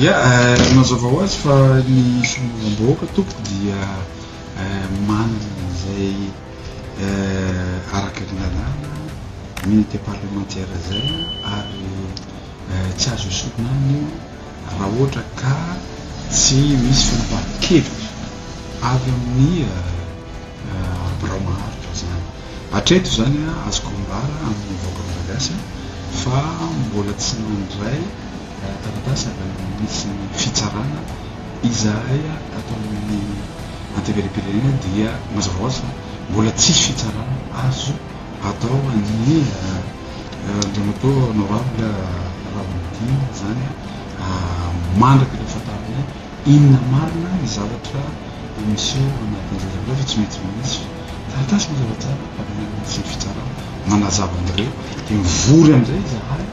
Ia, mazava ho azy fa ny solombavambahoaka tompoko dia manana izay araka ny lalàna immunité parlementaire izay ary tsy azo esorina aminy io raha ohatra ka tsy misy fanapahan-kevitra avy amin'ny birao maharitra izany. Hatreto izany azoko ambara amin'ny vahoaka Malagasy fa mbola tsy nandray taratasy avy amin'ny Minisitrin'ny Fitsarana izahay ato amin'ny Antenimierampirenena dia mazava ho azy fa mbola tsisy fitsarana azo atao an'i Andriamatoa Honorable Raholdina izany mandrak'ilay fantarinay Inona marina ny zavatra no miseho anatin'ny zazalahy fa tsy maintsy manisy taratasy mazava tsara avy any amin'ny tsy ny fitsarana manazava an'ireo dia mivory amin'izay izahay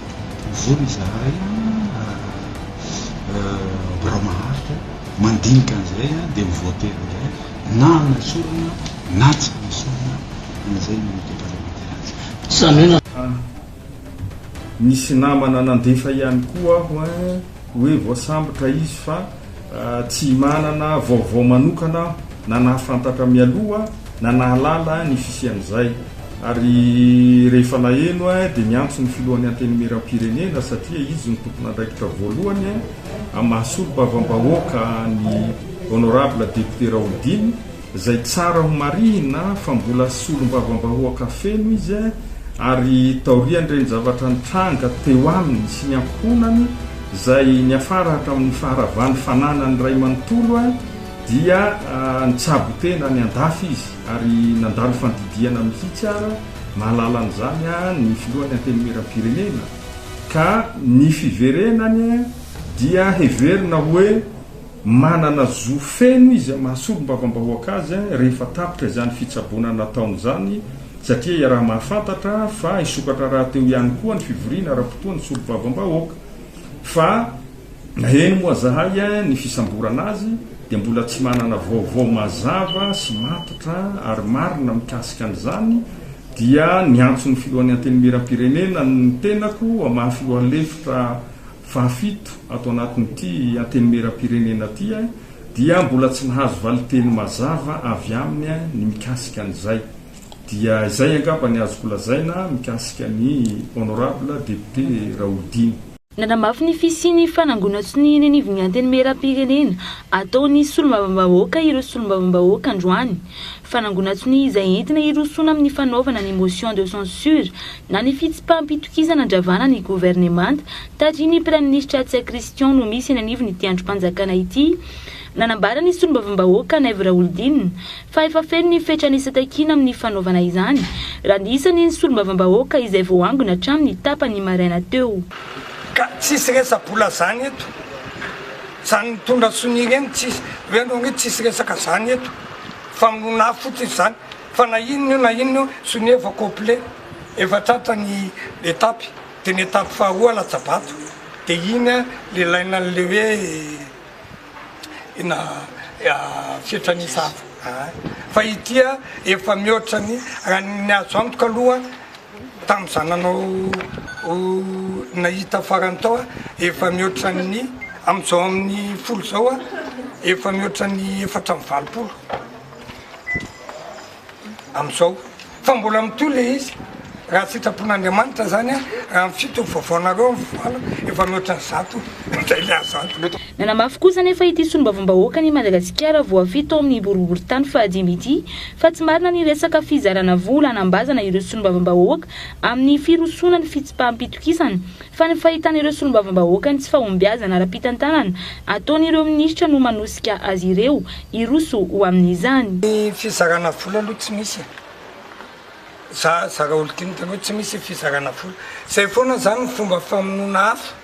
mivory izahay birao maharitra mandinika an'izay dia mivoatery amin'izay na amin'ny esorina na tsy amin'ny esorina an'izay ny Unité Parlementaire azy. Izany hoe na. Nisy namana nandefa ihany koa aho hoe voasambotra izy fa tsy manana vaovao manokana aho na nahafantatra mialoha na nahalala ny fisian'izay ary rehefa naheno dia niantso ny filohan'ny antenimieram-pirenena satria izy no tompon'andraikitra voalohany amin'ny maha solombavambahoaka an'i Honorable Député Raholdine Izay tsara ho marihina fa mbola solombavambahoaka feno izy ary taorian'ireny zavatra nitranga teo aminy sy ny ankohonany izay niafara hatramin'ny faharavan'ny fananany iray manontolo dia nitsabo tena any an-dafy izy ary nandalo fandidiana mihitsy ara mahalala an'izany ny filohan'ny antenimieram-pirenena ka ny fiverenany dia heverina hoe Manana zo feno izy hamaha solombavambahoaka azy rehefa tapitra izany fitsaboana nataony izany satria iaraha-mahafantatra fa hisokatra rahateo ihany koa ny fivoriana ara-potoan'ny solombavambahoaka. Fa naheno moa zahay ny fisamborana azy dia mbola tsy manana vaovao mazava sy matotra ary marina mikasika an'izany dia niantso ny filohan'ny Antenimierampirenena ny tenako hamaha filoha lefitra Fahafito, ato anatin'ity Antenimieram-pirenena ity dia mbola tsy nahazo valinteny mazava avy aminy ny mikasika an'izay. Dia izay angamba ny azoko lazaina mikasika ny Honorable Député Raholdina. Nanamafy ny fisian'ny fanangonan-tsonia eny anivon'ny Antenimieram-pirenena ataon'ny Solombavambahoaka ireo Solombavambahoaka androany. Fanangonan-tsonia izay entina hirosoana amin'ny fanaovana ny motion de censure Na ny fitsipaham-pitokisana andravana ny governemanta tarihin'ny Praiminisitra Atsia Christian no misy eny anivon'ity andrim-panjakana ity. Nanambara ny solombavambahoaka Naivo Raholdina fa efa feno ny fetra nisy takiana amin'ny fanaovana izany raha ny isan'ny ny solombavambahoaka izay vao angona hatramin'ny tapany maraina teo. Ka tsisy resa-bola zany eto. Zany mitondra sonia ireny tsisy. Hoe anao hoe tsisy resaka zany eto. Famonoana afo fotsiny zany. Fa na inona io na inona io, sonia efa complet, efa tratra ny etapy, de ny etapy faharoa latsabato, de iny an le ilaina anle hoe ina fietranisa hafa an, fa ity an efa mihoatra ny raha ny azo antoka aloha tam za nanao nahita farany tao an efa mihoatra ny amzao aminy folo zao an efa mihoatra ny efatra amby valopolo. Amin'izao fa mbola mitohy ilay izy, raha sitrapon'Andriamanitra izany, raha ny fito vaovaonareo amin'ny valo, efa mihoatra ny zato indray ilay azanto. Nanamafy kosa anefa ity solombavambahoakan' i Madagasikara voafidy tao amin'ny boriborintany fahadimy ity fa tsy marina ny resaka fizarana vola hanambazana ireo solombavambahoaka amin'ny firosoana ny fitsipaham-pitokisana fa ny fahitan'ireo solombavambahoaka ny tsy fahombiazana ara-pitantanana ataon'ireo minisitra no manosika azy ireo hiroso ho amin'izany. Ny fizarana vola aloha tsy misy e! Za zara olo-dinika aloha tsy misy fizarana vola. Zay foana zany ny fomba famonoana afo.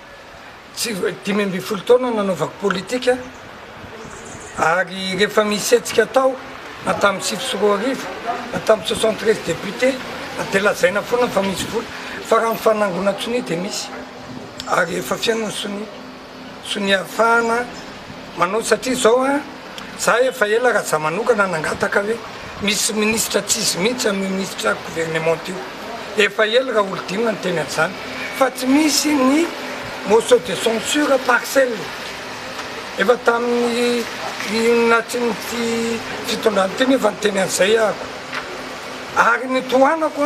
Tsy dimy ambin'ny folo taona nanaovako politika. Ary rehefa misy hetsika atao na tamin'ny sivy sy roa arivo na tamin'ny soixante treize députés dia lazaina foana fa misy vola fa raha ny fanangonana sonia dia misy ary efa feno ny sonia sonia ahafahana manao satria izao an za efa ela raha za manokana nangataka hoe misy ministra tsy izy mihitsy amin'io ministra gouvernement io efa ela raha olodinina ny teny an'izany fa tsy misy ny motion de censure partielle Efa tamin'ny natrin'ity fitondrana ity nefa niteny an'izay aho ary ny tohanako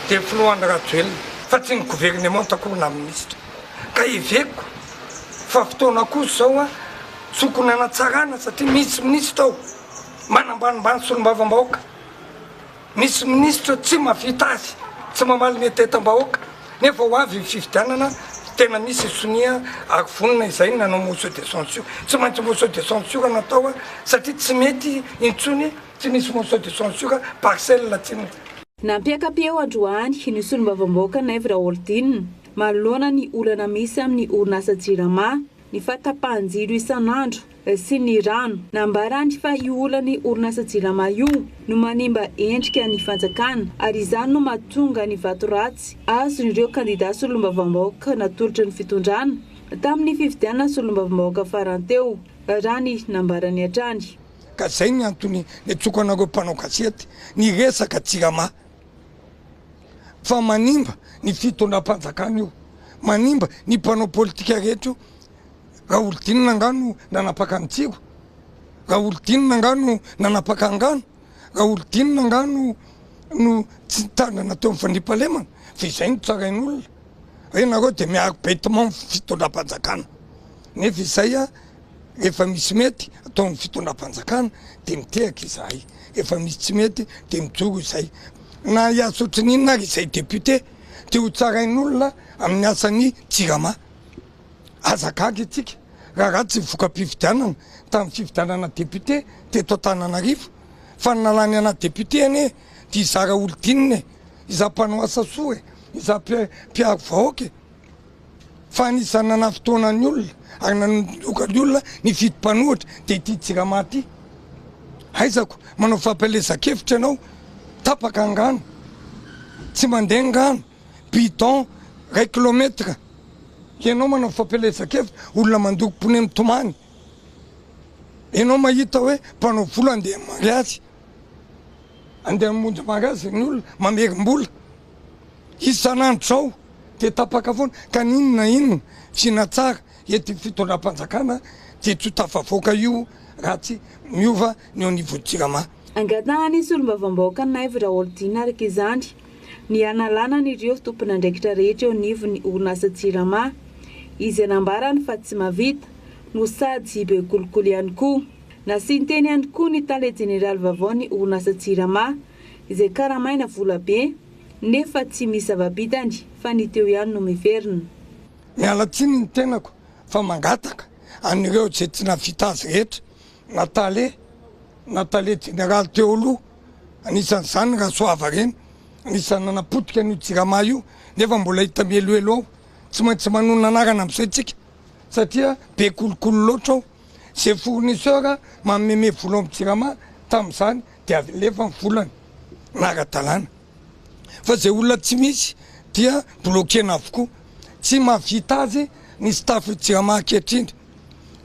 dia filohan'i Rajoelina fa tsy ny governemanta akory na minisitra ka heveko fa fotoana kosa izao tokony hanatsarana satria misy minisitra ao manambanimbany solombavambahoaka. Misy minisitra tsy mavita azy, tsy mamaly ny atetam-bahoaka, nefa ho avy ny fifidianana tena misy sonia ary vonona izay ny nanao motion de censure. Tsy maintsy motion de censure no atao satria tsy mety intsony tsy misy motion de censure parcelle tsy misy. Nampiaka-peo androany ny solombavambahoaka Naivo Raholdina manoloana ny olana misy amin'ny orinasa Jirama. ny fahatapahan-jiro isan'andro sy ny rano. Nambarany fa io olan'ny orinasa Jirama io no manimba endrika ny fanjakana ary izany no mahatonga ny vato ratsy azon'ireo kandidà solombavambahoaka natolotry ny fitondrana tamin'ny fifidianana solombavambahoaka farany teo, raha ny nambarany hatrany. Ka izay ny antony niantsoako anareo mpanao gazety niresaka Jirama. fa manimba ny fitondram-panjakana io, manimba ny mpanao politika rehetra io, Raholdinina angaha no nanapaka an'i Tsiro? Raholdinina angaha no nanapaka angano? Raholdinina angaha no no tsy nitandrina teo amin'ny fandriampahalemana? Fa izay no tsarain'olona, hoe nareo dia miaro bête mort fitondram-panjakana nefa izay a! Efa misy mety ataon'ny fitondram-panjakana dia mitehaka izahay, efa misy tsy mety dia mijoro izay. Na hiasa ohatrin'inona ary izay député dia ho tsarain'olona amin'ny asan'ny Jirama. Aza gaga isika raha ratsy ny voka-pifidianana tamin'ny fifidianana député teto Antananarivo fa ny nalany anà député anie dia izaho Raholdina e! Izaho mpanao asa soa e! Izaho mpiaro vahoaka e! Fa anisan'ny nanafintoana ny olona ary nanondroka ny olona ny fito mpanohitra dia ity Jirama ity. Aizako manao fampielezan-kevitra ianao, tapaka angano, tsy mandeha angano, bidon iray kilometatra, ianao manao fampielezan-kevitra, olona mandoko pneu mitomany, ianao mahita hoe mpanao vola andeha mariazy, andeha hamonjy mariazy ny olona, mamerim-bola. Isan'andro zao dia tapaka foana ka n'inona na inona tsy natsara eto io fitondram-panjakana dia tsy ho tafavoaka io raha tsy miova ny eo anivon'ny Jirama. Angatahan'ny solombavambahoaka Naivo Raholdina araka izany ny hanalana an'ireo tompon'andraikitra rehetra eo anivon'ny orinasa Jirama izay nambarany fa tsy mahavita no sady be kolikoly ihany koa. Nasian-teny ihany koa ny tale jeneraly vaovaon'ny orinasa Jirama, izay karamaina vola be nefa tsy misy zava-bitany fa ny teo ihany no miverina. Miala tsiny ny tenako fa mangataka an'ireo izay tsy navita azy rehetra na tale na tale jeneraly teo aloha anisan'izany Rasoava Reny anisan'ny nanapotika an'io Jirama io nefa mbola hita mihelohelo ao, tsy maintsy manonona anarana amin'izay tsika satria be kolikoly loatra ao. Izay fournisseur mameme vola ao amin'ny jirama tamin'izany dia alefa ny volany ara-dalàna fa izay olona tsy misy dia bloquena avokoa. Tsy mahavita azy ny staff jirama ankehitriny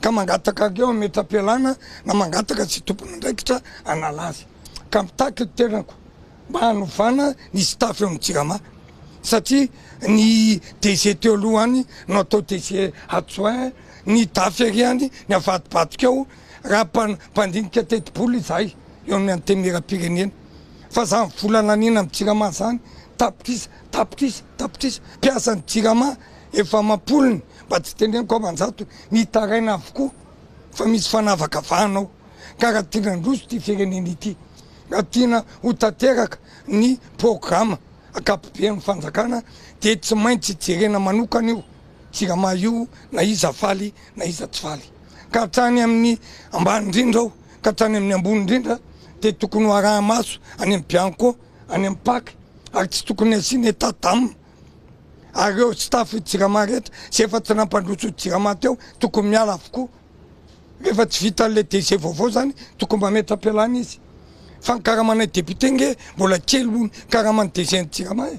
ka mangataka anareo hametra-pialana na mangataka izay tompon'andraikitra hanala azy ka mitaky ny tenako mba hanovana ny staff eo amin'ny Jirama satria ny DG teo aloha any no atao DG adjoint, ny dafy ery any ny avadibadika ao raha mpandinika tetibola izahay eo amin'ny Antenimierampirenena fa zany vola laniana amin'ny Jirama zany tapitrisa tapitrisa tapitrisa mpiasan'ny Jirama efa amam-polony mba tsy teneniko aman-jatony mitaraina avokoa fa misy fanavakavahana ao. ka raha tiana handroso ity firenena ity, raha tiana ho tanteraka ny programa ankapoben'ny fanjakana dia tsy maintsy jerena manokana io Jirama io na iza faly na iza tsy faly. Ka hatrany amin'ny ambany indrindra ao ka hatrany amin'ny ambony indrindra dia tokony ho araha-maso any amin'ny Bianco, any amin'ny Pac ary tsy tokony hasiana état d'âme ary ireo staff Jirama rehetra izay efa tsy nampandroso Jirama teo tokony miala avokoa. Rehefa tsy vita an'ilay décès vaovao izany tokony mametra-pialana izy. Fa ny karamanay député ange mbola kely noho ny karaman'ny décès an'i Jirama e!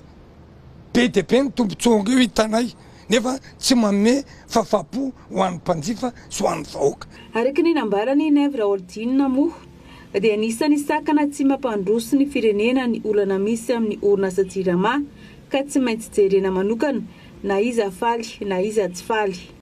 Be dia be ny tombontsoa ange hitanay nefa tsy manome fahafahampo ho an'ny mpanjifa sy ho an'ny vahoaka. Araka ny nambaran'i Naivo Raholdina moa dia anisan'ny sakana tsy mampandroso ny firenena ny olana misy amin'ny orinasa Jirama ka tsy maintsy jerena manokana na iza faly na iza tsy faly.